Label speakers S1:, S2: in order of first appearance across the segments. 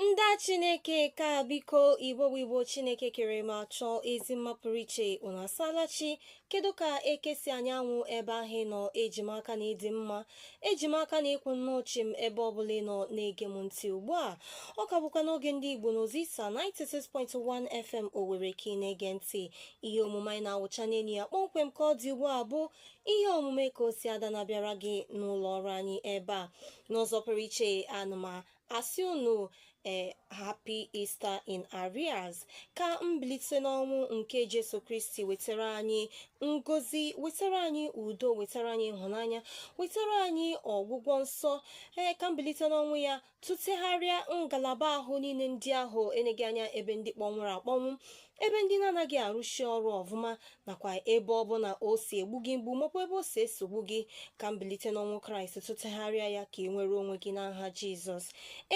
S1: ndị chineke ka biko igbo bụ igbo chineke kere ma chọọ ezi mma pụrụ iche unu asaala chi kedu ka eke si anya anwụ ebe ahụ ị nọ eji m aka na ị dị mma eji m aka na ị kwụ nnọọ chịm ebe ọbụla ị nọ na-ege m ntị ugbu a ọ ka bụkwa n'oge ndị igbo na ozisa 96.1 fm owere ka ị na-ege ntị ihe omume anyị na-awụcha n'ime ya kpọmkwem ka ọ dị ugbu a bụ ihe omume ka o si ada na-abịara gị n'ụlọ ọrụ anyị ebe a n'ụzọ pụrụ iche ana m asị unu ee eh, happy Easter in arrears ka mbilite n'ọnwụ nke Jesu Kristi wetara anyị ngozi wetara anyị udo wetara anyị ịhụnanya wetara anyị ọgwụgwọ nsọ ee eh, ka mbilite n'ọnwụ ya tụtegharịa ngalaba ahụ niile ndị ahụ eneghị anya ebe ndị kpọnwụrụ akpọnwụ ebe ndị na-anaghị arụsi ọrụ ọfụma nakwa ebe ọ bụla o si egbu gị mgbu maọbụ ebe o si esogbu gị ka mbilite n'ọnwụ kraịst tụtegharịa ya ka ị nwere onwe gị n'aha jizọs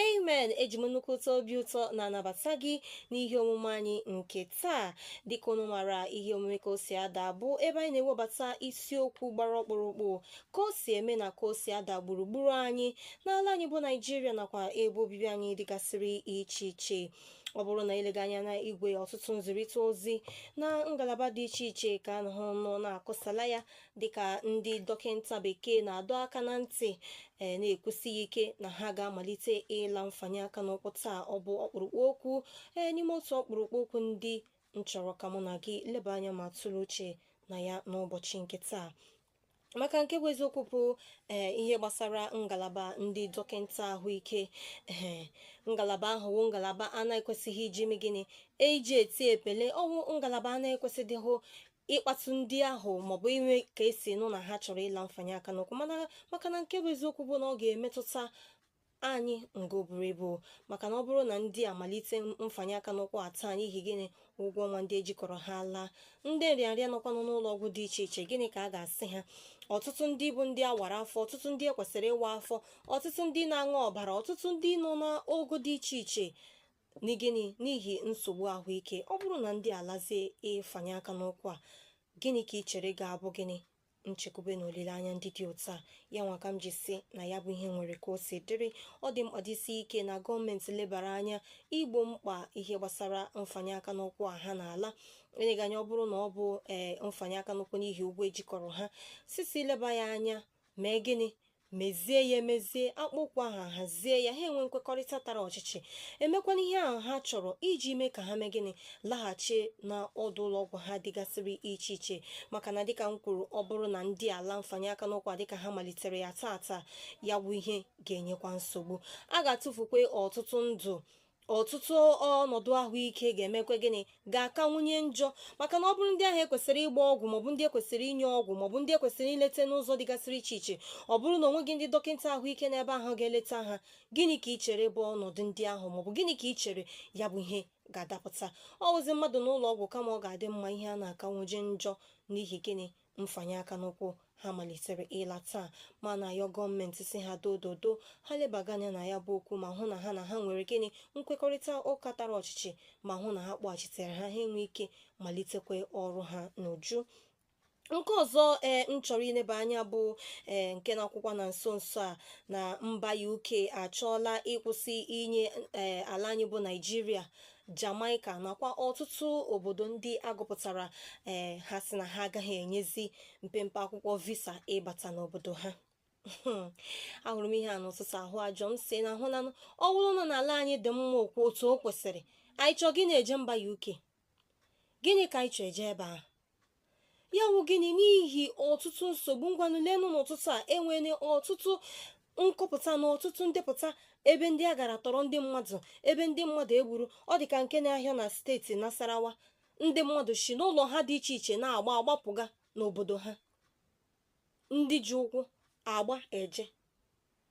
S1: amen eji m nnukwu ụtọ obi ụtọ na-anabata gị n'ihe omume anyị nke taa dịka unu mara ihe omume ka o si ada bụ ebe anyị na-ewebata isiokwu gbara ọkpụrụkpụ ka o si eme na ka o si ada gburugburu anyị n'ala anyị bụ naijiria nakwa ebe obibi anyị dịgasịrị iche iche ọ bụrụ na i lega anya na igwe ọtụtụ nzirịta ozi na ngalaba dị iche iche ka a nọhụ nọ na-akụsala ya dịka ndị dọkịta bekee na-adọ aka na ntị ee na-ekwusi ike na ha ga-amalite ịla mfanye aka n'ụkwụ taa ọ bụ ọkpụrụkpụ okwu ee n'ime otu ọkpụrụkpụ okwu ndị m chọrọ ka mụ na gị leba anya ma tụrụ uche na ya n'ụbọchị nke taa maka nke bụ eziokwu bụ ee ihe gbasara ngalaba ndị dọkịta ahụike ee ngalaba ahụ wụ ngalaba a na-ekwesịghị iji ime gịnị eji eti epele ọ wụ ngalaba a na-ekwesịdịghị ịkpatụ ndị ahụ maọbụ ime ka e si nụ na ha chọrọ ịla mfanye aka n'ụkwụ mana maka na nke bụ eziokwu bụ na ọ ga-emetụta anyị nga o buru ibu maka na ọ bụrụ na ndị a malite mfanye aka n'ụkwụ a taa n'ihi gịnị ụgwọ ọnwa ndị ejikọrọ ha laa ndị nrịanrịa nọkwanụ n'ụlọ ọgwụ dị iche iche gịnị ka a ga-asị ha ọtụtụ ndị bụ ndị a wara afọ ọtụtụ ndị ekwesịrị ịwa afọ ọtụtụ ndị na-aṅụ ọbara ọtụtụ ndị nọ n'ogo dị iche iche n'ihi gịnị n'ihi nsogbu ahụike ọ bụrụ na ndị a lazie ịfanye aka n'ụkwụ a gịnị ka ị chere ga-abụ gịnị nchekwube na olileanya ndị dị otu a ya nwa ka m ji sị na ya bụ ihe nwere ka o si dịrị ọ dị mkpa dịsi ike na gọọmenti lebara anya igbo mkpa ihe gbasara mfanye aka n'ụkwụ a ha na-ala eleghị anya ọ bụrụ na ọ bụ ee eh, mfanye aka n'ụkwụ n'ihi ụgwọ ejikọrọ ha sisi leba ya anya mee gịnị mezie ya emezie akpaa okwu ahụ hazie ya ha enwe nkwekọrịta tara ọchịchị emekwana ihe ahụ ha chọrọ iji mee ka ha mee gịnị laghachi na ọdụ ụlọ ọgwụ ha dịgasịrị iche iche maka na dịka m kwuru ọ bụrụ na ndị a la mfanye aka n'ụkwụ dịka ha malitere ya taa taa ya bụ ihe ga-enyekwa nsogbu a ga-atụfukwa ọtụtụ ndụ ọtụtụ ọnọdụ ahụike ga-emekwa gịnị ga-akawanye njọ maka na ọ bụrụ ndị ahụ ekwesịrị ịgba ọgwụ maọbụ ndị ekwesịrị inye ọgwụ maọbụ ndị ekwesịrị ileta n'ụzọ dịgasịrị iche iche ọ bụrụ na onweghị ndị dọkịta ahụike n'ebe ahụ ga-eleta ha gịnị ka ị chere bụ ọnọdụ ndị ahụ maọbụ gịnị ka ị chere ya bụ ihe ga-adapụta ọ wụzi mmadụ n'ụlọ ọgwụ kama ọ ga-adị mma ihe a na-akawanye njọ n'ihi gịnị mfanye aka n'ụkwụ ha malitere ịla taa ma na-ayọ gọọmenti si ha dododo ha lebaga anya na ya bụ okwu ma hụ na ha na ha nwere gịnị nkwekọrịta ụka tara ọchịchị ma hụ na ha kpọghachitere ha ha enwe ike malitekwa ọrụ ha n'uju nke ọzọ ee m chọrọ ileba anya bụ ee nke na-akwụkwa na nso nso a na mba UK achọọla ịkwụsị inye ee ala anyị bụ Naịjirịa Jamaika nakwa ọtụtụ obodo ndị agụpụtara ee ha si na ha agaghị enyezi mpempe akwụkwọ visa ịbata n'obodo ha ahụrụ m ihe a n'ụtụtụ ahụ ajọ m si na ahụ na ọ bụrụ na n'ala anyị dị mma okwu otu o kwesịrị anyị chọọ gịnị eje mba UK gịnị ka anyị chọọ eje ebe ahụ ya wụ gịnị n'ihi ọtụtụ nsogbu ngwanụ leenụ n'ụtụtụ a enwere ọtụtụ nkọpụta na ọtụtụ ndepụta ebe ndị a gara tọrọ ndị mmadụ ebe ndị mmadụ egburu ọ dị ka nke na-ahịa na steeti Nasarawa ndị mmadụ si n'ụlọ ha dị iche iche na-agba agbapụga n'obodo ha ndị ji ụkwụ agba eje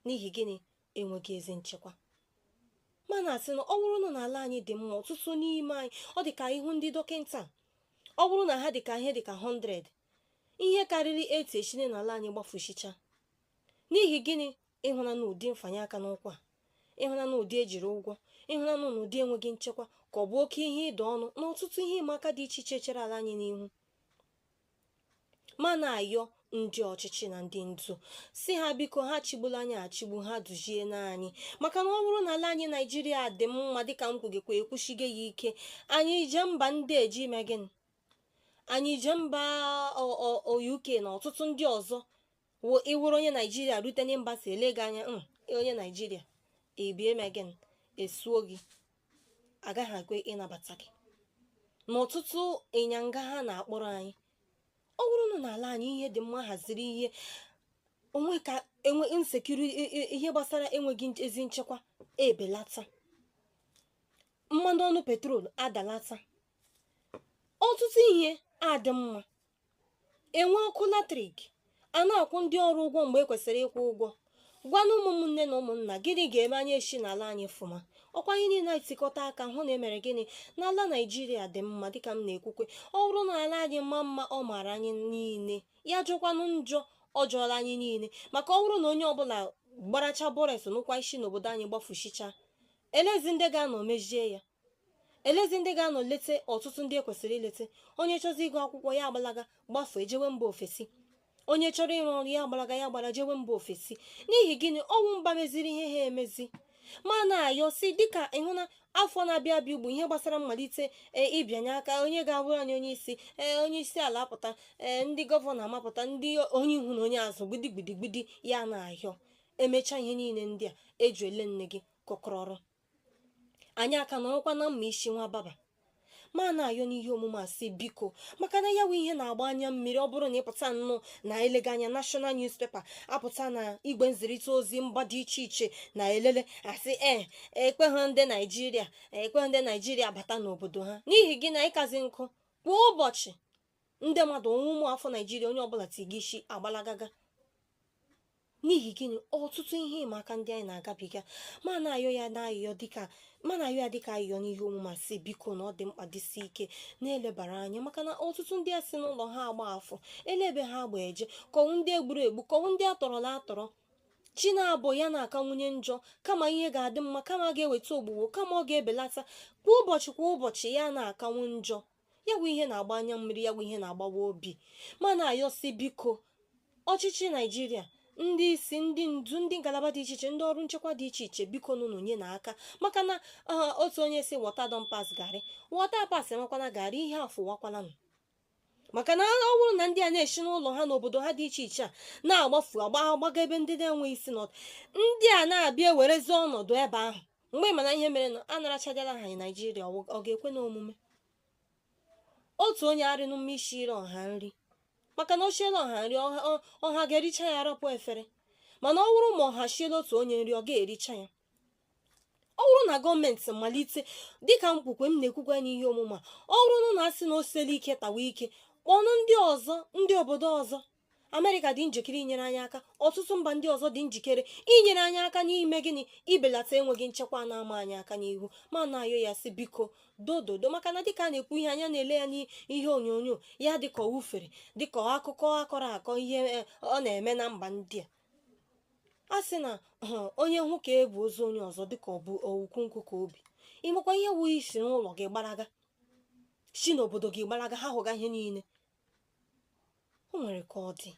S1: n'ihi gịnị enweghị ezi nchekwa ma na-asị na ọ bụrụ na n'ala anyị dị mma ọtụtụ n'ime anyị ọ dị ka ị hụ ndị dọkịta ọ bụrụ na ha dị ka ihe dị ka 100 ihe karịrị 80 esi n'ala anyị gbafusịcha n'ihi gịnị ịhụna na ụdị mfanye aka n'ụkwụ ịhụna na ụdị ejiri ụgwọ ịhụna na ụdị enweghị nchekwa ka ọ bụ oke ihe ịda ọnụ na ọtụtụ ihe ịma aka dị iche iche chere ala anyị n'ihu ma na-ayọ ndị ọchịchị na ndị ndu si ha biko ha chigbula anyị achigbu ha duzienụ anyị maka na ọ bụrụ na ala anyị naijiria dị mma dịka m kwugekwa ekwusigo ya ike anyị eje mba ndị a eje ime gịnị anyị eje mba uk na ọtụtụ ndị ọzọ wụ ịwụrụ onye naijiria rute na mba si ele gị anya "Mm, onye naijiria ebie mee gịnị esuo gị agaghị ekwe ịnabata gị na ọtụtụ ịnyanga ha na-akpọrọ anyị ọ bụrụ na n'ala anyị ihe dị mma haziri ihe onwe ka enwe insecurity ihe gbasara enweghị nch- ezi nchekwa ebelata mmanụ ọnụ petrol adalata ọtụtụ ihe adị mma enwe ọkụ latrik a na-akwụ ndị ọrụ ụgwọ mgbe e kwesịrị ịkwụ ụgwọ ngwanụ ụmụnne na ụmụnna gịnị ga-eme anyị esi n'ala anyị fụma ọkwa anyị niile etikọta aka hụ na emere gịnị na ala naijiria dị mma dịka m na-ekwukwa ọ bụrụ na ala anyị maa mma ọ maara anyị niile ya jọkwanụ njọ ọ jọọla anyị niile maka ọ bụrụ na onye ọbụla gbaracha bọres n'ụkwụ si n'obodo anyị gbafusicha elezi ndị ga-anọ mezie ya elezi ndị ga-anọ lete ọtụtụ ndị ekwesịrị ilete onye chọzi ịgụ akwụkwọ ya agbalaga gbafee jewe mba ofesi onye chọrọ ịrụ ọrụ ya agbalaga ya gbara jewe mba ofesi n'ihi gịnị ọ wụ mba meziri ihe ha emezi ma na-ayọ sị dịka ị hụ na afọ na-abịa abịa ugbu ihe gbasara mmalite ee ịbịanye aka onye ga-abụrụ anyị onye isi ee onye isi ala apụta ee ndị gọvanọ amapụta ndị onye ihu na onye azụ gbidigbidigbidi ya na-ayọ emechaa ihe niile ndị a eju ele nne gị kọkọrọ ọrụ anyị aka nọrọkwa na mma isi nwa baba ma na-ayọ n'ihe omume a sị biko maka na ya wụ ihe na-agba anya mmiri ọ bụrụ na ị pụta nnọọ na elega anya national newspaper apụta na igwe nzirịta ozi mba dị iche iche na elele a sị ee ekweghị ndị naijiria ekweghị ndị naijiria bata n'obodo ha n'ihi gịnị ịkazi nkụ kwa ụbọchị ndị mmadụ onwe ụmụ afọ naijiria onye ọbụla ti gị isi agbalagaga n'ihi gịnị ọtụtụ ihe ịma aka ndị anyị na-agabiga ma na-ayọ ya na-ayọ dịka ma na-ayọ ya dịka ayọ n'ihe omume sị biko na ọ dị mkpa jisi ike na-elebara anya maka na ọtụtụ ndị a si n'ụlọ ha agbafu ele ebe ha agba eje ka ọ wụ ndị e gburu egbu ka ọ wụ ndị a tọrọla atọrọ chi na-abọ ya na-akawanye njọ kama ihe ga-adị mma kama ga-eweta ogbugbo kama ọ ga-ebelata kwa ụbọchị kwa ụbọchị ya na-akawa njọ ya wụ ihe na-agba anya mmiri ya bụ ihe na-agbawa obi ma na-ayọ sị biko ọchịchị naijiria ndị isi ndị ndu ndị ngalaba dị iche iche ndị ọrụ nchekwa dị iche iche biko nụnụ nyenụ aka maka na ah, otu onye sị water don pass garri water pass enwekwana garri ihe afụwakwalanụ maka na ọ bụrụ na ndị a na-esi n'ụlọ ha n'obodo ha dị iche iche a na-agbafu agba agbaga ebe ndị na-enweghị isi nọdụ ndị a na-abịa ewerezi ọnọdụ ebe ahụ mgbe ị ma na ihe mere na a narachadịla ha naijiria ọ ga-ekwenụ omume otu onye arịnụ mma isiri ọha nri maka na o siela ọha nri ọha ga-ericha ya arapụ efere mana ọ wụrụ ma ọha siela otu onye nri ọ ga-ericha ya ọ bụrụ na gọọmenti malite dịka m kwukwe m na-ekwukwa ya n'ihe omume ọ bụrụ na a sị na o siela ike tawa ike kpọnụ ndị ọzọ ndị obodo ọzọ amerịka dị njikere inyere anyị aka ọtụtụ mba ndị ọzọ dị njikere inyere anyị aka n'ime gịnị ibelata enweghị nchekwa na-ama anyị aka n'ihu ma na-ayọ ya sị biko dododo maka na dịka a na-ekwu ihe anya na-ele ya n'ihe onyonyo ya dịka ọ wụ ufere dịka akụkọ a kọrọ akọ ihe e, ọ na-eme na mba ndị a a sị na onye hụ ka e bu ozu onye ọzọ dịka ọ bụ ukwu nkụ ka o bu ị makwa ihe ọ wụ isi n'ụlọ gị gbaraga si n'obodo gị gbaraga hahụga ihe niile o nwere ka ọ dị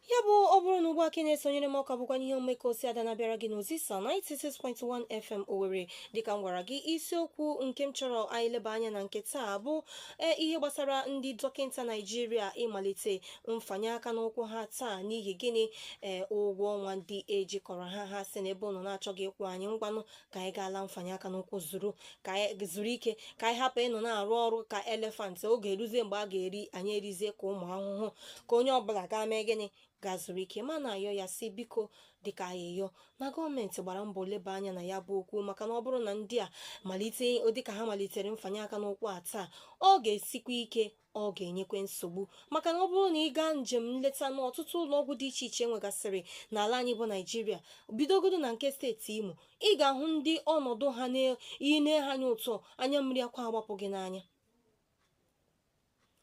S1: ya bụ ọ bụrụ na ugbu a ka ị na-esonyere m ọ ka bụkwa n'ihe omume ka o si ada na-abịara gị n'ozisa 96.1 FM Owerri dịka m gwara gị isiokwu nke m chọrọ anyị leba anya na nke taa bụ ee ihe gbasara ndị dọkịta Naijiria ịmalite mfanye aka n'ụkwụ ha taa n'ihi gịnị ee ụgwọ ọnwa ndị ejikọrọ ha ha sị na ebe ụnụ na-achọghị ịkwụ anyị ngwanụ ka anyị gaa laa mfanye aka n'ụkwụ zuru ka anyị zuru ike ka anyị hapụ ịnọ na-arụ ọrụ ka elefant oge eruzie mgbe a ga-eri anyị erizie ka ụmụ ahụhụ ka onye ọbụla gaa mee gịnị gaa zuru ike ma na-ayọ ya sị biko dịka ayịyọ na gọọmenti gbara mbọ leba anya na ya bụ okwu maka na ọ bụrụ na ndị a malite dịka ha malitere mfanye aka n'ụkwụ a taa ọ ga-esikwa ike ọ ga-enyekwa nsogbu maka na ọ bụrụ na ị gaa njem nleta n'ọtụtụ ụlọọgwụ dị iche iche nwegasịrị n'ala anyị bụ naijiria bidogodo na nke steeti imo ị ga-ahụ ndị ọnọdụ ha na i nee ha anya ụtọ anya mmiri akwa agbapụ gị n'anya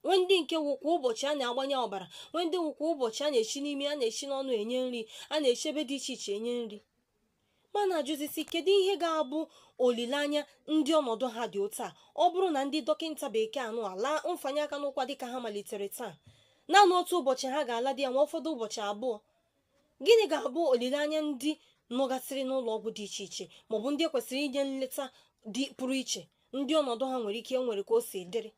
S1: nwee ndị nke wụ kwa ụbọchị a na-agbanye ọbara nwee ndị wụ kwa ụbọchị a na-eshi n'imi a na-eshi n'ọnụ enye nri a na-eshi ebe dị iche iche enye nri ma na-ajụzi sị kedu ihe ga-abụ olileanya ndị ọnọdụ ha dị otu a ọ bụrụ na ndị dọkịta bekee anụ ala mfanye aka n'ụkwụ a dịka ha malitere taa naanị otu ụbọchị ha ga-ala dị ya nwee ụfọdụ ụbọchị abụọ gịnị ga-abụ olileanya ndị nọgasịrị n'ụlọ ọgwụ dị iche iche maọbụ ndị kwesịrị inye nleta dị pụrụ iche ndị ọnọdụ ha nwere ike nwere ka o si dịrị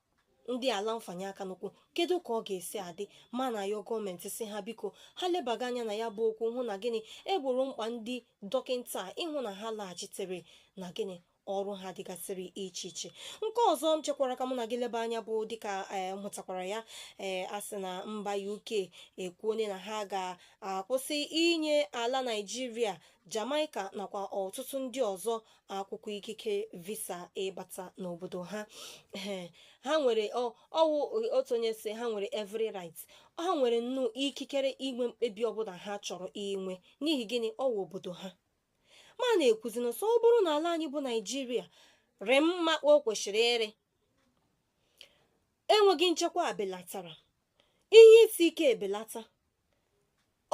S1: ndị a laa mfanye aka n'ụkwụ kedu ka ọ ga-esi adị ma na-ayọ gọọmenti sị ha biko ha lebaga anya na ya bụ okwu hụ na gịnị e gboro mkpa ndị dọkịta ịhụ na ha laghachitere na gịnị ọrụ ha dịgasịrị iche iche nke ọzọ m chekwara ka mụ na gị leba anya bụ dịka ee m hụtakwara ya ee a sị na mba UK ekwuone na ha ga-akwụsị inye ala Naịjirịa Jamaica nakwa ọtụtụ ndị ọzọ akwụkwọ ikike visa ịbata n'obodo ha ha nwere ọ wụ otu onye sị ha nwere every right ha nwere nnọọ ikikere inwe mkpebi ọbụla ha chọrọ inwe n'ihi gịnị ọ wụ obodo ha ma na-ekwuzi na sị ọ bụrụ na ala anyị bụ naijiria rị mma o kwesịrị ịrị enweghị nchekwa belatara ihe isi ike ebelata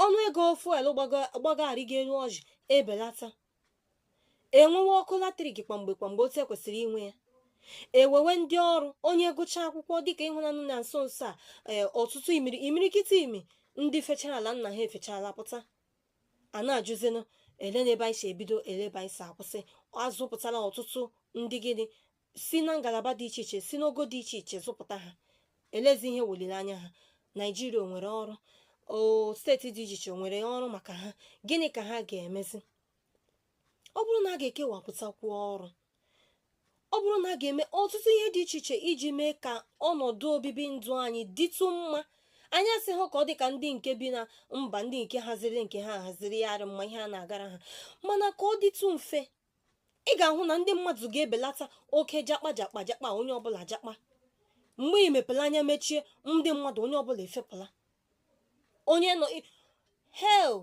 S1: ọnụ ego fuel gbago arịgo elu ọjị ebelata e nwewe ọkụ latrik kwamgbe kwamgbe otu e kwesịrị inwe ya e wewe ndị ọrụ onye gụchaa akwụkwọ dịka ị hụnanụ na nso nso a ee, ọtụtụ imiri- imirikiti imi ndị fechara ala nna ha efechala pụta a na-ajụzinụ elee n'ebe anyị si ebido elee ebe anyị si akwụsị a zụpụtala ọtụtụ ndị gịnị si na ngalaba dị iche iche si n'ogo dị iche iche zụpụta ha elezi ihe weliri anya ha naijiria o nwere ọrụ o steeti dị iche iche o nwere ọrụ maka ha gịnị ka ha ga-emezi ọ bụrụ na a ga-ekewapụtakwu ọrụ ọ bụrụ na a ga-eme ọtụtụ ihe dị iche iche iji mee ka ọnọdụ obibi ndụ anyị dịtụ mma anyị asịghị ka ọ dị ka ndị nke bi na mba ndị nke haziri nke ha haziri ya arị mma ihe a na-agara ha mana ka ọ dịtụ mfe ị ga-ahụ na ndị mmadụ ga-ebelata oke jakpa jakpa jakpa onye ọbụla jakpa mgbe ị mepere anya mechie ndị mmadụ onye ọbụla efepụla onye nọ ị- hel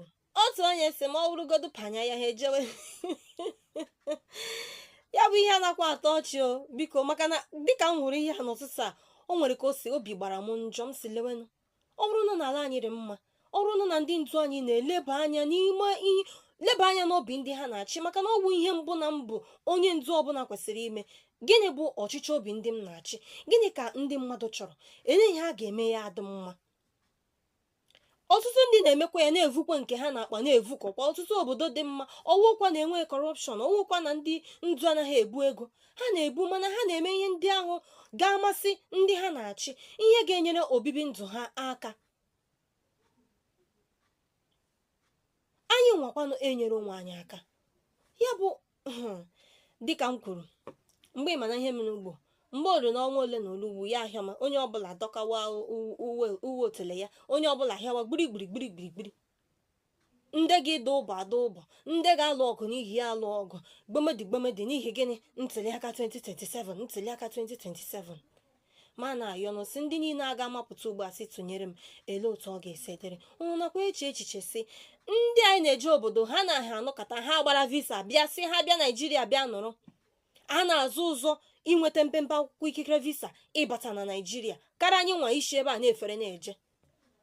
S1: otu onye sị m ọ wụrụgodu panya ya ha ejewe ya bụ ihe a nakwa atọ ọchị o biko maka na dịka m hụrụ ihe a n'ụtụtụ a o nwere ka o si obi gbara m njọ m sị lewenụ ọ bụrụ na n'ala anyị dị mma ọ bụrụ na ndị ndu anyị na-eleba anya n'ime ihe leba anya n'obi ndị ha na-achị maka na ọ bụ ihe mbụ na mbụ onye ndu ọbụla kwesịrị ime gịnị bụ ọchịchọ obi ndị m na-achị gịnị ka ndị mmadụ chọrọ elee ihe a ga-eme ya adị mma ọtụtụ ndị na-emekwa ya na-evukwa nke ha na-akpa na-evukọkwa ọtụtụ obodo dị mma ọ wụkwa na enwe corruption ọ wụkwa na ndị ndu anaghị ebu ego ha na-ebu mana ha na-eme ihe ndị ahụ ga-amasị ndị ha na-achị ihe ga-enyere obibi ndụ ha aka anyị nwakwanụ enyere onwe anyị aka ya bụ hmm, dịka m kwuru mgbe ị ma na ihe mere ugbu a mgbe o lu na ọnwa ole na ole ugbu a ya ahịọ ma onye ọbụla dọkawa uwe otele ya onye ọbụla hịawa gbirigbiri gbirigbiri ndị ga-ada ụbọ ada ụbọ ndị ga-alụ ọgụ n'ihi ya alụ ọgụ gbomedi gbomedi n'ihi gịnị ntụliaka 2027 ntụliaka 2027 ma na-ayọnụ sị ndị niile a ga-amapụta ugbu a sị tụnyere m ele otu ọ ga-esi dịrị ụnụ nakwa eche echiche sị ndị anyị na-eje obodo ha na ha anọkọta ha gbara visa bịa sị ha bịa naijiria bịa nọrọ a na-azọ ụzọ inweta mpempe akwụkwọ ikikere visa ịbata na naijiria karịa anyị nwa si ebe a na-efere na-eje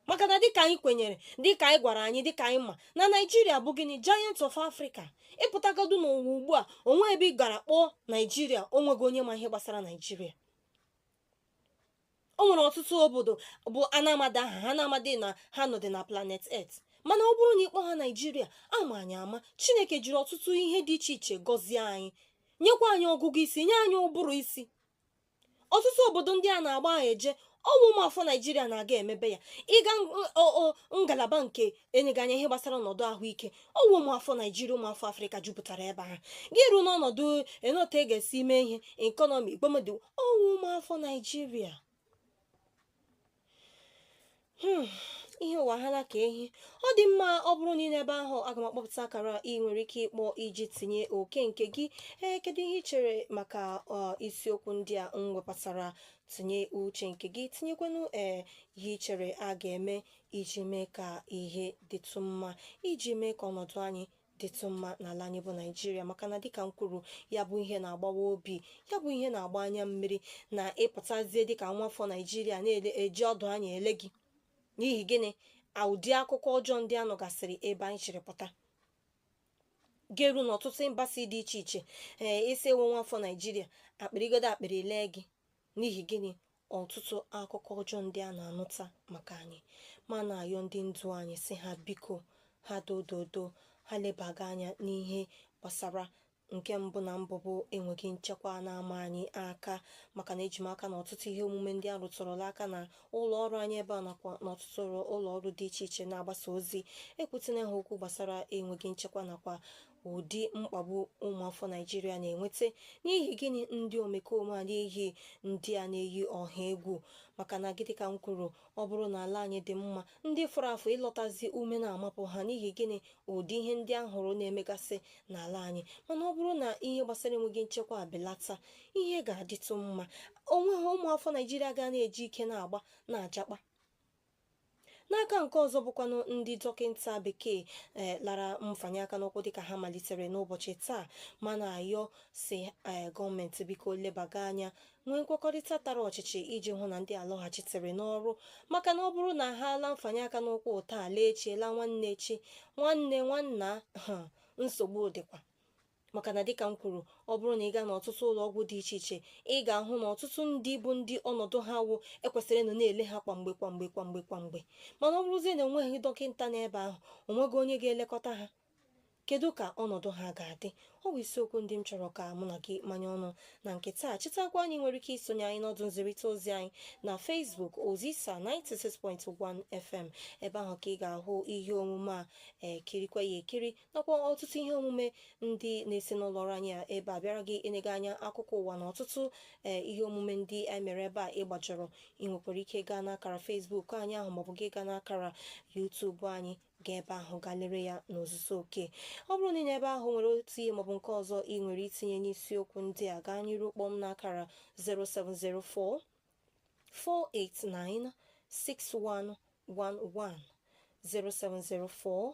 S1: maka na dịka anyị kwenyere dịka anyị gwara anyị dịka anyị ma na naijiria bụ gịnị giant of africa ị pụtagodu n'ụwa ugbu a o nwe ebe ị gara kpọọ naijiria o nweghị onye ma ihe gbasara naijiria o nwere ọtụtụ obodo bụ na amadị aha ha na amadị na ha nọdị na planet earth mana ọ bụrụ na ị kpọọ aha naijiria a ma anyị ama chineke jiri ọtụtụ ihe dị iche iche gọzie anyị nyekwa anyị ọgụgụ isi nye anyị ụbụrụ isi ọtụtụ obodo ndị a na-agba ahụ eje ọ wụ ụmụafọ naijiria na-aga emebe ya ị gaa ngalaba nke enyeghị anya ihe gbasara ọnọdụ ahụike ọ wụ ụmụafọ naijiria ụmụafọ afrịka jupụtara ebe ahụ gị ruo n'ọnọdụ na otu a ga-esi mee ihe ekọnọmi ikpomọdụ ọ wụ ụmụafọ naijiria Hmm, ihe ụwa ha na ka ehi ọ dị mma ọ bụrụ na ị nọ ebe ahụ aga m akpọpụta akara ị nwere ike ịkpọ iji tinye oke nke gị ee kedu ihe ị chere maka ọ, isiokwu ndị a m wepụtara tinye uche nke gị tinyekwanụ ee ihe ị chere a ga-eme iji mee ka ihe dịtụ mma iji mee ka ọnọdụ anyị dịtụ mma n'ala anyị bụ naijiria maka na dịka m kwuru ya bụ ihe na-agbawa obi ya bụ ihe na-agba anya mmiri na ị pụtazie dịka nwafọ naijiria a na-eji ọdụ anya ele gị n'ihi gịnị ụdị akụkọ ọjọọ ndị a nụgasịrị ebe anyị chịrị pụta garuo n'ọtụtụ embassy dị iche iche ee ị sị ị wụ nwafọ naijiria akpịrịgodo akpịrị lee gị N'ihi gịnị ọtụtụ akụkọ ọjọọ ndị a na-anụta maka anyị ma na-ayọ ndị ndu anyị sị ha biko ha dododo ha lebaga anya n'ihe gbasara nke mbụ na mbụ bụ enweghị nchekwa na-ama anyị aka maka na eji m aka na ọtụtụ ihe omume ndị a rụtụrụla aka na ụlọ ọrụ anyị ebe a nakwa n'ọtụtụ ụlọ ọrụ dị iche iche na-agbasa ozi ekwutina ha okwu gbasara enweghị nchekwa nakwa ụdị mkpagbu ụmụafọ naijiria na-enweta n'ihi gịnị ndị omekome a na-eyi ndị a na-eyi ọha egwu maka na dịka m kwuru ọ bụrụ na ala anyị dị mma ndị fọrọ afọ ịlọtazi ume na-amapụ ha n'ihi gịnị ụdị ihe ndị a hụrụ na-emegasị n'ala anyị mana ọ bụrụ na ihe gbasara enweghị nchekwa abelata ihe ga-adịtụ mma onweghị ụmụafọ naijiria ga na-eji ike na-agba na-ajakpa n'aka nke ọzọ bụkwanụ ndị dọkịta bekee eh, lara mfanye aka n'ụkwụ dịka ha malitere n'ụbọchị taa ma na-ayọ sị eh, gọọmenti biko lebaga anya nwee nkwekọrịta tara ọchịchị iji hụ na ndị a lọghachitere n'ọrụ maka na ọ bụrụ na ha alaa mfanye aka n'ụkwụ taa laa echi laa nwanne echi nwanne nwanna nsogbu dịkwa maka na dịka m kwuru ọ bụrụ na ị gaa n'ọtụtụ ụlọ ọgwụ dị iche iche ị ga-ahụ na ọtụtụ ndị bụ ndị ọnọdụ ha wụ e kwesịrị ịnọ na-ele ha kwamgbe kwamgbe kwamgbe kwamgbe mana ọ bụrụzie na enweghị dọkịta n'ebe ahụ onweghị onye ga-elekọta ha kedu ka ọnọdụ ha ga-adị ọ bụ isiokwu ndị m chọrọ ka mụ na gị manye ọnụ na nke taa chetakwa na ị nwere ike isonye anyị n'ọdụ nzirịta ozi anyị na Facebook Ozisa 96.1 FM ebe ahụ ka ị ga-ahụ ihe omume a kirikwa ya ekiri nakwa ọtụtụ ihe omume ndị na-esi n'ụlọ ọrụ anyị a ebe a abịara gị enye gị anya akụkọ ụwa na ọtụtụ ee ihe omume ndị anyị mere ebe a ị gbajọrọ ị nwekwara ike gaa n'akara Facebook anyị ahụ maọbụ gị gaa n'akara YouTube anyị gaa ebe ahụ gaa lere ya n'ozuzu oke ọ bụrụ na ị nọ ebe ahụ nwere otu ihe maọbụ nke ọzọ ị nwere itinye n'isiokwu ndị a gaa n'iru kpọọ m n'akara 0704 489 6111 0704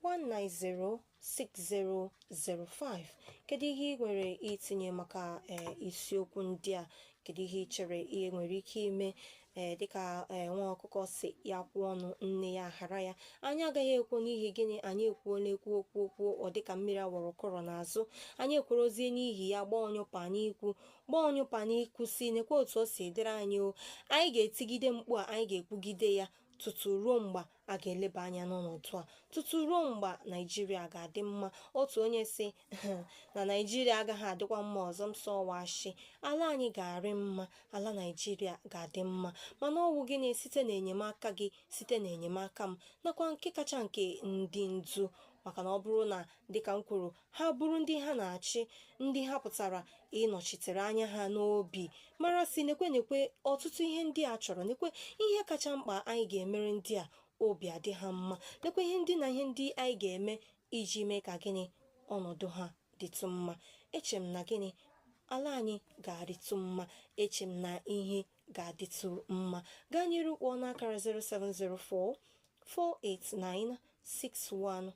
S1: 1906005 kedu ihe ị nwere itinye maka ee isiokwu ndị a kedu ihe ị chere e nwere ike ime ee dịka ee nwa ọkụkọ sị ya kwụọ ọnụ nne ya hara ya anyị agaghị ekwo n'ihi gịnị anyị ekwuola ekwu okwu okwu ọ dịka mmiri a wụrụ kọrọ n'azụ anyị ekworozie n'ihi ya gbaa ọnyụpa n'ikwu gbaa ọnyụpa n'ikwu sị nekwa otu o si dịrị anyị o anyị ga-etigide mkpu a anyị ga-ekwugide ya tutu ruo mgbe a ga-eleba anya n'ọnọdụ a tutu ruo mgbe naijiria ga-adị mma otu onye sị na naijiria agaghị adịkwa mma ọzọ m sị ọ wụ ashị ala anyị ga-arị mma ala naijiria ga-adị mma mana ọ wụ gịnị site n'enyemaka gị site n'enyemaka m nakwa nke kacha nke ndị ndu maka na ọ bụrụ na dịka m kwuru ha buru ndị ha na-achị ndị ha pụtara ịnọchitere anya ha n'obi mara sị nekwe nekwe ọtụtụ ihe ndị a chọrọ nekwe ihe kacha mkpa anyị ga-emere ndị a obi adị ha mma nekwe ihe ndị na ihe ndị anyị ga-eme iji mee ka gịnị ọnọdụ ha dịtụ mma eche m na gịnị ala anyị ga-adịtụ mma eche m na ihe ga-adịtụ mma gaa n'iru kpọọ n'akara 0704 489 61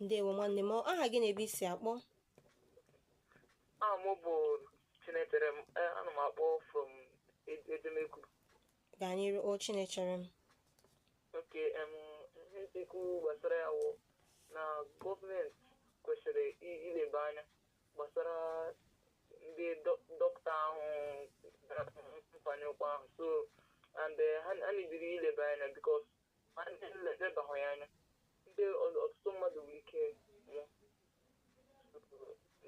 S1: ndewo nwanne m aha gị na ebe i si akpọ
S2: aha m bụ chinecherem eh, ana m akpọ from edemegwu
S1: gaa n'iru o chinecherem
S2: okay ihe m chọ ikwu gbasara ya wụ na gọọmenti kwesịrị ileba anya gbasara ndị dọkịta ahụ mfanye ụkwụ ahụ so and eh, ha na-ebiri ileba anya because ma ndị elebaghị ya anya ndị ọ- ọtụtụ mmadụ nwere ike nwụọ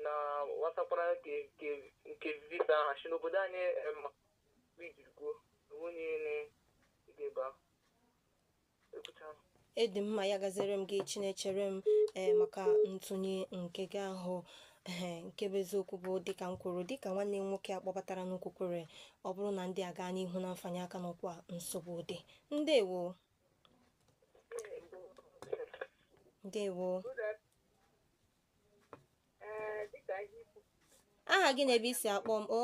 S2: na wasakwara nke nke- nke visa ahụ si n'obodo anyị eh, ma ijiri kwuo onye na-ege ebe ahụ
S1: ekwucha m. ọ dị mma ya gaziere m gị chinecherem ee maka ntụnye nke gị ahụ ee nke bụ eziokwu bụ dịka m kwuru dịka nwanne m nwoke a kpọbataranụ kwukwere ọ bụrụ na ndị a gaa n'ihu na mfanye aka n'ụkwụ a nsogbu dị ndewo
S3: ndewo aha gị na ebe
S1: i si akpọ m o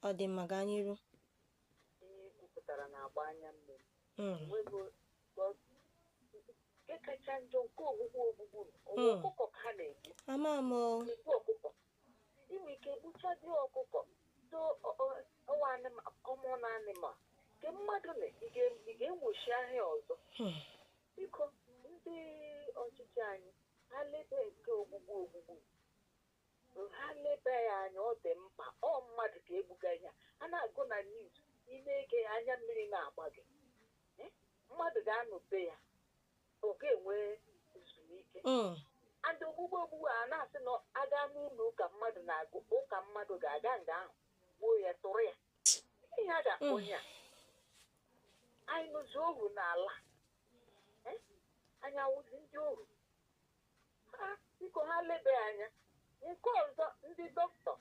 S3: ọ dị mma
S1: gaa
S3: n'iru ama m ị nwe ike egbuchadị ọkụkọ so ọwụ common animal nke mmadụ na ị ga-enwochi ahịa ọzọ hmm. biko ndị ọchịchị anyị ha lebe nke ogbugbu ogbugbu ha lebe ya anya ọ dị mkpa ọ mmadụ ka egbuga ya a na-agụ na news ị na-ege ya anya mmiri na-agba gị eh? mmadụ ga-anọ be ya ọ ga-enwe ezumike mm. and ogbugbu ogbugbu a na-asị na aga n'ụlọ ụka mmadụ na-aga ụka mmadụ ga-aga nga ahụ gbuo ya tụrụ ya ihe a ga-akpọ mm. ya anyị nọzi ohu n'ala eh? anyị awụzi ndị ohu ha biko ha lebe anya nke ọzọ ndị dọkịta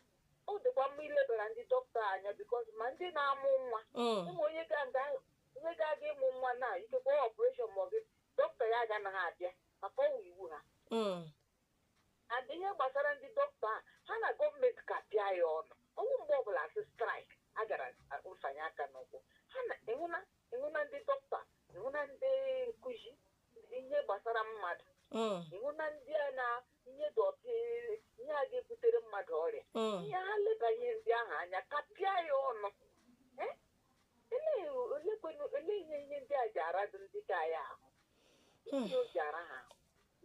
S3: ọ dịkwa mma ilebara ndị dọkịta anya because ma ndị na-amụ nwa Mm. ụmụ onye ga- ga- onye ga-aga ịmụ nwa na ikekwe operation ma ọ bụ dọkịta ya agaghị abịa maka ọwụ iwu ha Mm. and ihe gbasara ndị dọkịta a ha na gọọmenti kapịa ya ọnụ ọwụ mgbe ọbụla asị strike a gara fanye aka n'ụkwụ ha na ịhụna ịhụna ndị dọkịta ịhụna ndị nkụzi ihe gbasara mmadụ mm. ịhụna ndị a na ihe dọtị ihe a ga-ebutere mmadụ ọrịa mm. ihe ha leba ihe ndị ahụ anya kapịa ya ọnụ olee ihe ihe ndị a ji aradụ ndị ka anyị ahụ hmm. ihe o ji ara ha ahụ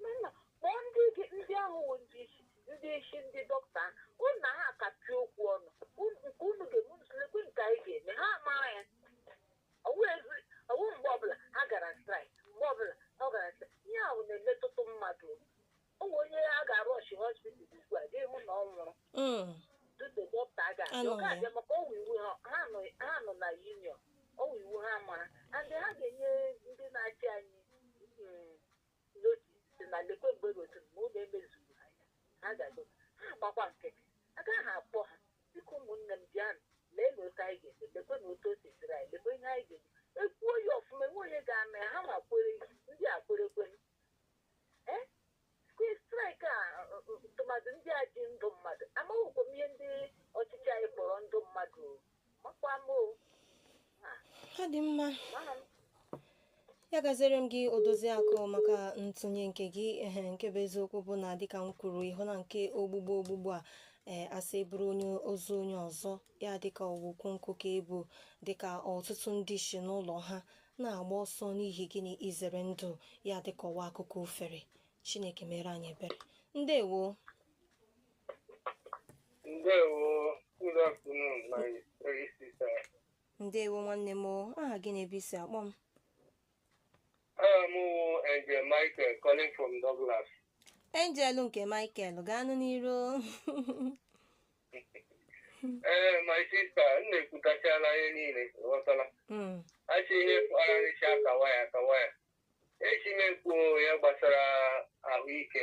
S3: mana kpọọ ndị gị ndị ahụ wụ ndị isi ndị isi ndị dọkịta unu na ha kapịa okwu ọnụ nke unu ga-eme lekwe nke anyị ga-eme ha mara ya ọwụzi ọwụ mgbe ọbụla ha gara strike mgbe ọbụla ọ gara strike ihe ahụ na-emetụta mmadụ o nwere onye a ga-arọshị hospital ugbu a ga-ahụ na ọ nwụrụ Mm. tupu dọkịta a ga-abịa and ọ ga-abịa ya. maka ọwụ iwu ha ha nọ ha nọ na union ọwụ iwu ha mara and ha ga-enye ndị na-achị anyị mm, notice sị na lekwe mgbe gosi m na ụlọ emezughị ha ya ha ga-aga ha agbakwa nkịtị agaghị akpọ ha dịka ụmụnne m bịanụ lee na otu anyị ga-eme lekwe na otu o si dịrị anyị lekwe ihe anyị ga-eme ekwuo ya ọfụma enwe onye ga-ama ya ha ma kwere ndị a kwere kwere ee strike a ọ- ọ- tụmadụ ndị a ji ndụ mmadụ amaghịkwa m ihe ndị ọchịchị anyị kpọrọ ndụ mmadụ
S1: ọ dị mma ya gaziere m gị odoziakụ maka ntụnye nke gị ehe nke bụ eziokwu bụ na dịka m kwuru ịhụ na nke ogbugbu ogbugbu a ee asị e buru ozu onye ọzọ ya dịka ọwụ ukwu nkụ ka e bu dịka ọtụtụ ndị si n'ụlọ ha na-agba ọsọ n'ihi gịnị izere ndụ ya dịka ọwụ akụkọ ofere chineke mere anyị ebere ndewo ndewo nwanne m o aha gị na ebe i si akpọ m
S4: Aha m wụ Angel Michael calling from Douglas. angel
S1: nke michael gaanụ
S4: n'iru Ee, my sister, m na-ekwutachala ihe niile, ị ghọtala. Mm, Achị ihe kpararịcha akawa ya akawa ya. Echi na-ekwu ya gbasara ahụike.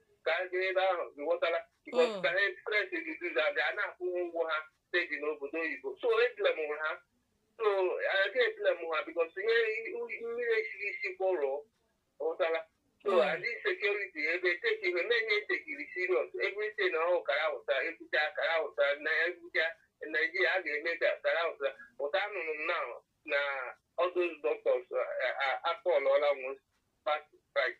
S4: ka ha jee ebe ahụ ghọtara because Mm. ka ha express disease a ga na-akwụ ha ụgwọ ha steji n'obodo oyibo so e blame ha so a ga e blame ha because ihe mmiri esiri isi kwọrọ ghọtara so Mm. and this security ebe take ihe na-enye take it serious everything ọhụụ kara ụta ebuja kara ụta na ebuja naijiria a ga-eme ka kara ụta ụta anụrụ m na na all those doctors akpọlụọla nwe past price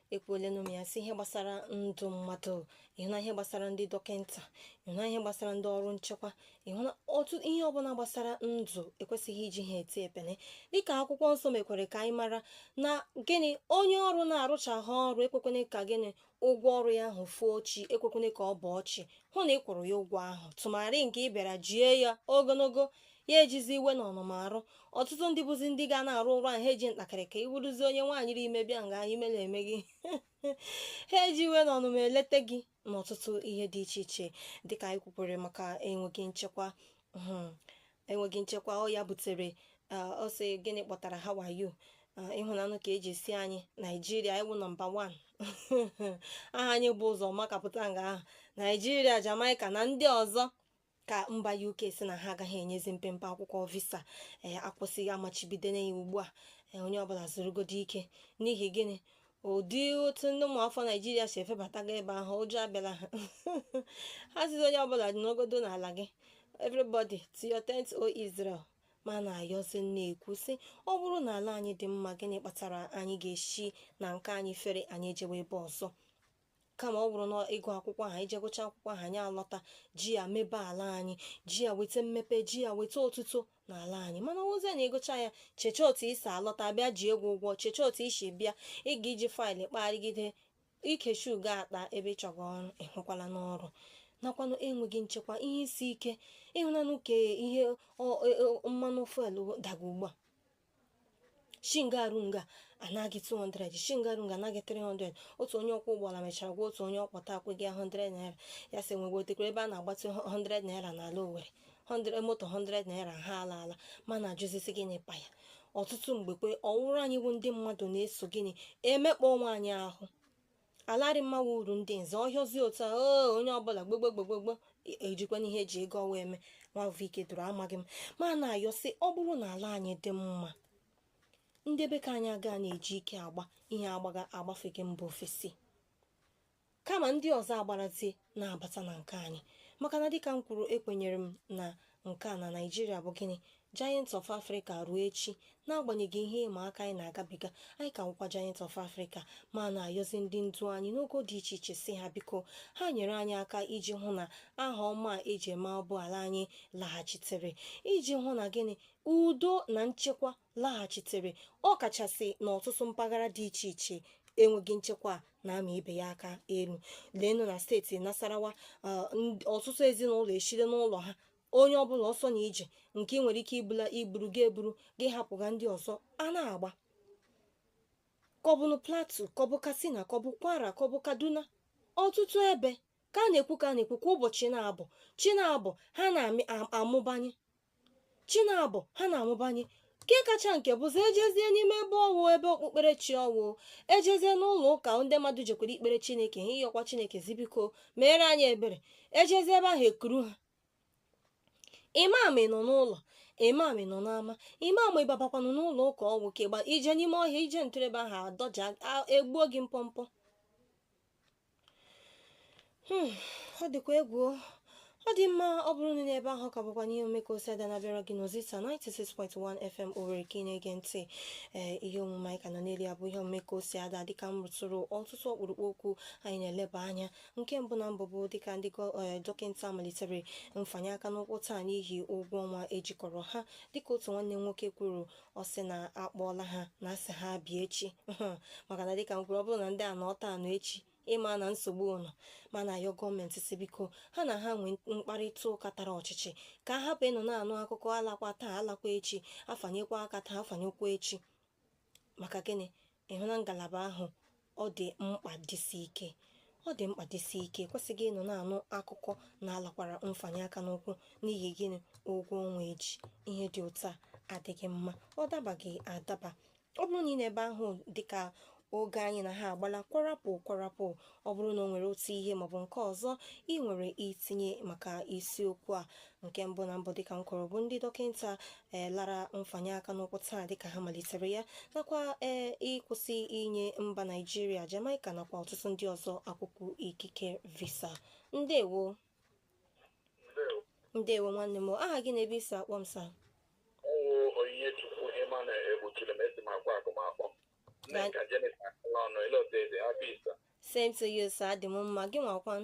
S1: ekwuolenụ m ya sị ihe gbasara ndụ mmadụ ị hụna ihe gbasara ndị dọkịnta ị hụna ihe gbasara ndị ọrụ nchekwa ị hụna otu ihe ọbụla gbasara ndụ ekwesịghị iji ha eti epele dịka akwụkwọ nsọ mekwere ka anyị mara na gịnị onye ọrụ na-arụcha gị ọrụ ekwekwene ka gịnị ụgwọ ọrụ ya ahụ foo chi ekwekwene ka ọ bọọ chi hụ na ị kwụrụ ya ụgwọ ahụ tụmarị nke ị bịara jie ya ogologo ya ejizi iwe na ọnụma arụ ọtụtụ ndị bụzi ndị ga na-arụ ọrụ ahụ ha eji ntakịrị ka ị wụrụzi onye nwaanyị ri ime bịa nga ime na-eme gị ha eji iwe na ọnụma eleta gị n'ọtụtụ ihe dị iche iche dịka anyị kwukwere maka enweghị nchekwa hmm, enweghị nchekwa ọ ya butere ah, ọ sị gịnị kpatara ha wayo ah, ị hụnanụ ka e ji sị anyị naijiria ị wụ nọmba 1 aha anyị bu ụzọ makapụta nga ahụ naijiria jamaica na ndị ọzọ ka mba UK sị na ha agaghị enyezi mpempe akwụkwọ visa ee eh, akwụsịghị amachibidona ya ugbu a eh, onye ọbụla zurugodo ike n'ihi gịnị ụdị otu ndị ụmụafọ naijiria si efebataga ebe ahụ ụjọ abịala ha ha sịzi onye ọbụla nọgodo n'ala gị everybody to your tent o Israel ma na-ajụzi na-ekwu sị ọ bụrụ na ala anyị dị mma gịnị kpatara anyị ga-esi na nke anyị fere anyị ejewe ebe ọzọ kama ọ bụrụ na ịgụ akwụkwọ ahụ ị jee gụcha akwụkwọ ahụ anyị alọta ji ya mebe ala anyị ji ya weta mmepe ji ya weta otuto n'ala anyị mana ọ wụzi na ị gụcha ya cheche otu i si alọta bịa ji egwu ụgwọ cheche otu i si bịa ị ga-eji faịlụ kpagharịgide ikechi ugo akpa ebe ị chọga ọrụ ị hụkwalanụ ọrụ nakwanụ enweghị nchekwa ihe isi ike ị hụnanụ ka ihe e, e, mmanụ fuelu daga ugbu a shi nga a ruo nga a anaa gị 200 shi nga a ruo nga a anaa gị 300 otu onye ọkwọ ụgbọala mechara gwa otu onye ọ kpọta akwụghị ya 100 naira ya sị nwetekwara ebe a na-agbazi 100 naira n'ala Owerri 100 moto 100 naira a alaala mana ajụzi sị gịnị kpa ya ọtụtụ mgbe kwa ọ wụrụ anyị bụ ndị mmadụ na-eso gịnị emekpa onwe anyị ahụ ala adịghị mma wụ uru ndị nze ọhịọzi otu a oo onye ọbụla gbogbogbogbogbò ejikwana ihe eji ego ọwa eme nwavụike dụrụ amaghị m ma na-ayọ sị ọ bụrụ na ala anyị dị mma ndị be ka anyị aga na-eji ike agba ihe agbaga agbafega mba ofesi kama ndị ọzọ agbarazie na-abata na nke anyị maka na dịka m kwuru ekwenyere m na nke a na naijiria bụ gịnị giant of africa ruo echi n'agbanyeghị ihe ịma aka anyị na-agabiga anyị ka wụkwa giant of africa ma na-ayọzi ndị ndu anyị n'ogo dị iche iche sị ha biko ha nyere anyị aka iji hụ na aha ọma a eji ama ọ bụ ala anyị laghachitere iji hụ na gịnị udo na nchekwa laghachitere ọ kachasị n'ọtụtụ mpaghara dị iche iche enweghị nchekwa na-ama ibe ya aka elu leenụ na steeti Nasarawa ọtụtụ ezinụlọ esila n'ụlọ ha onye ọbụla ọsọ na ije nke ị nwere ike iburu gị eburu gị hapụga ndị ọzọ a na-agba ka ọ bụnụ Plateau ka ọ bụ katsina ka ọ bụ kwara ka ọ bụ kaduna ọtụtụ ebe ka a na-ekwu ka a na-ekwu kwa ụbọchị na-abọ chi na-abọ ha na-amụbanye chi na-abọ ha na-amụbanye nke kacha nke bụzi ejezie n'ime ebe ọwụ ebe okpukperechi ọ wụ ejezie n'ụlọ ụka ndị mmadụ jekwara ikpere chineke ha ịyọkwa chineke sị biko meere anyị ebere ejezie ebe ahụ ekuru ha imam nọ n'ụlọ imam nọ n'ama imam ịbabakwanụ n'ụlọ ụka ọ wụ kegba ije n'ime ọhịa ije ntụrebe ahụ adọja egbuo gị mpọmpọ Hmm, ọ dịkwa egwu ọ dị mma ọ bụrụ na ị nọ ebe ahụ ka bụkwa n'ihe omume ka o si ada na-abịara gị n'Ozisa 96.1 FM Owerri ka ị na-ege ntị ee ihe omume anyị ka nọ n'elu ya bụ ihe omume ka o si ada dịka m rụtụrụ ọtụtụ ọkpụrụkpụ okwu anyị na-eleba anya nke mbụ na mbụ bụ dịka ndị gọ- ee, dọkịta malitere mfanye aka n'ụkwụ taa n'ihi ụgwọ ọnwa ejikọrọ ha dịka otu nwanne nwoke kwuru ọ sị na akpọọla ha na asị ha bịa echi maka na dịka m kwuru ọ bụrụ na ndị a nọ taa nọ echi ịma na nsogbu nọ mana ayọ gọọmenti sị biko ha na ha nwee mkparịta ụka tara ọchịchị ka a hapụ ịnọ na-anụ akụkọ alakwa taa alakwa echi afanyekwa aka taa afanyekwa echi maka gịnị ịhụ na ngalaba ahụ ọ dị mkpa dịsi ike ọ dị mkpa dịsi ike ekwesịghị ịnọ na-anụ akụkọ na alakwara mfanye aka n'ụkwụ n'ihi gịnị ụgwọ ọnwa eji ihe dị otu a adịghị mma ọ dabaghị adaba ọ bụrụ na ị nọ ebe ahụ dịka oge anyị na ha agbala kwarapụ kwarapụ ọ bụrụ na o nwere otu ihe maọbụ nke ọzọ ị nwere itinye maka isiokwu a nke mbụ na mbụ dịka m kwuru bụ ndị dọkịta ee lara mfanye aka n'ụkwụ taa dịka ha malitere ya nakwa ee ịkwụsị inye mba naijiria jamaica nakwa ọtụtụ ndị ọzọ akwụkwọ ikike visa ndewo Ndewo. ndewo nwanne m aha gị na ebe i si akpọ m sa ọ wụ
S5: Onyinyechukwu ịma na egbochiri m esi m Akwakụma akpọ Right. Nneka Jennifer Akalọnụ ele otu eze happy Easter same to
S1: you sir adị m mma gị nwakwan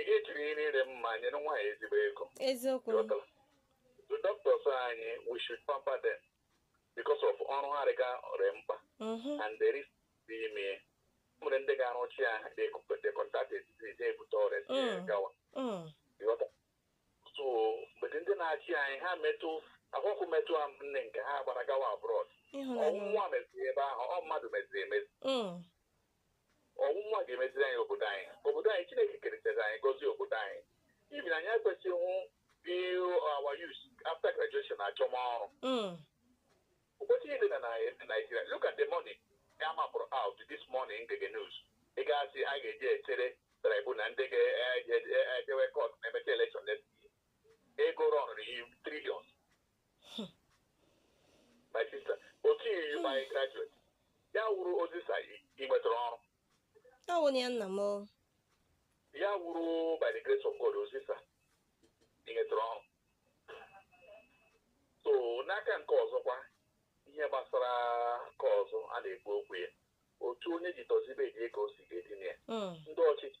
S5: ihe ejiri ihe niile mma nyere nwaanyị ezigbo ego
S1: eziokwu
S5: the doctors anyị we should pamper them because of ọrụ ha rụga ọ rị mkpa mm-hmm. and there is ị ma e nwere ndị ga-arụchi ya they contact the disease ebute ọrịa mm. gawa mm. so mgbe ndị na-achị anyị ha metụ akwụkwọ metụ a nne nke ha gbara gawa abroad ọ wụ mmụọ meziri ebe ahụ ọ mmadụ meziri emezi mm. ọ wụ mmụọ ga-emeziri anyị obodo anyị obodo anyị chineke keretara anyị gọzie obodo anyị even anyị ekwesịghị ịhụ our youth after graduation achọma ọrụ mm. ụbọchị niile na Nigeria look at the money a mapụrụ out this morning m na-ege news ego a sị a ga-eji echere tribunal ndị ga-ejewe kọt ma e mechaa elekshọn ego rọnụrụ in triliọn my sister otu i ji mee graduate ya wụrụ Ozisa ị nwetara ọrụ ọ wụ na ya
S1: nna m o. ya
S5: wụrụ by the grace of God Ozisa ị nwetara ọrụ so n'aka nke ọzọkwa ihe gbasara nke ọzọ a na-ekwu okwu ya otu onye ji dozie bed ya ka o si ga-edina ya Mm, ndị ọchịchị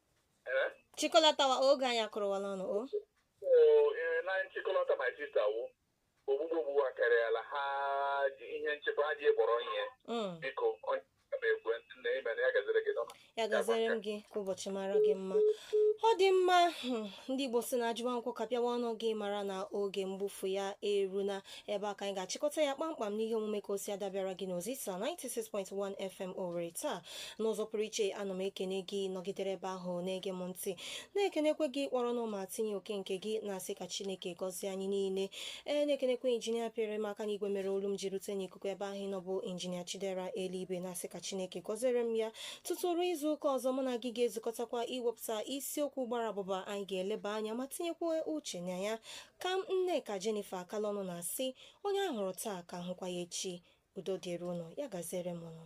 S1: Eh? chịkọlatawa oge anyị akụrụwala ọnụ o Oo,
S5: ee, na nchịkọlata my sister wụ ogbugbu ogbugbu akarịala ha ji ihe nchekwa ha ji ya kpọrọ ihe Mm, biko onye ma ekwe ntị na ime na ya gaziri gị n'ọma ya gaziere m
S1: gị ka ụbọchị mara gị mma ọ dị mma hmm, ndị igbo si na ajụwa nkwụ kapịawa ọnụ gị mara na oge mgbufu ya eruna ebe a ka anyị ga-achịkọta ya kpamkpam n'ihe omume ka o si adabịara gị n'Ozisa 96.1 FM Owerri taa n'ụzọ pụrụ iche ana m ekene gị nọgidere ebe ahụ na-ege m ntị na-ekenekwe gị kpọrọnụ ma tinye oke nke gị na-asị ka Chineke gọzie anyị niile ee na-ekenekwe injinia pịrị m aka n'igwe mere olu m ji rute n'ikuku ebe ahụ ị nọ bụ injinia Chidera Eluigwe na-asị ka Chineke gọziere m ya tutu ruo izu ụka ọzọ mụ na gị ga-ezukọtakwa iwepụta isiokwu gbara abụba anyị ga-eleba anya ma tinyekwa uche na ya Ka m Nneka Jennifer Akalọnụ na-asị onye a hụrụ taa ka a hụkwa ya echi udo dịrị ụnụ ya gaziere m ụnụ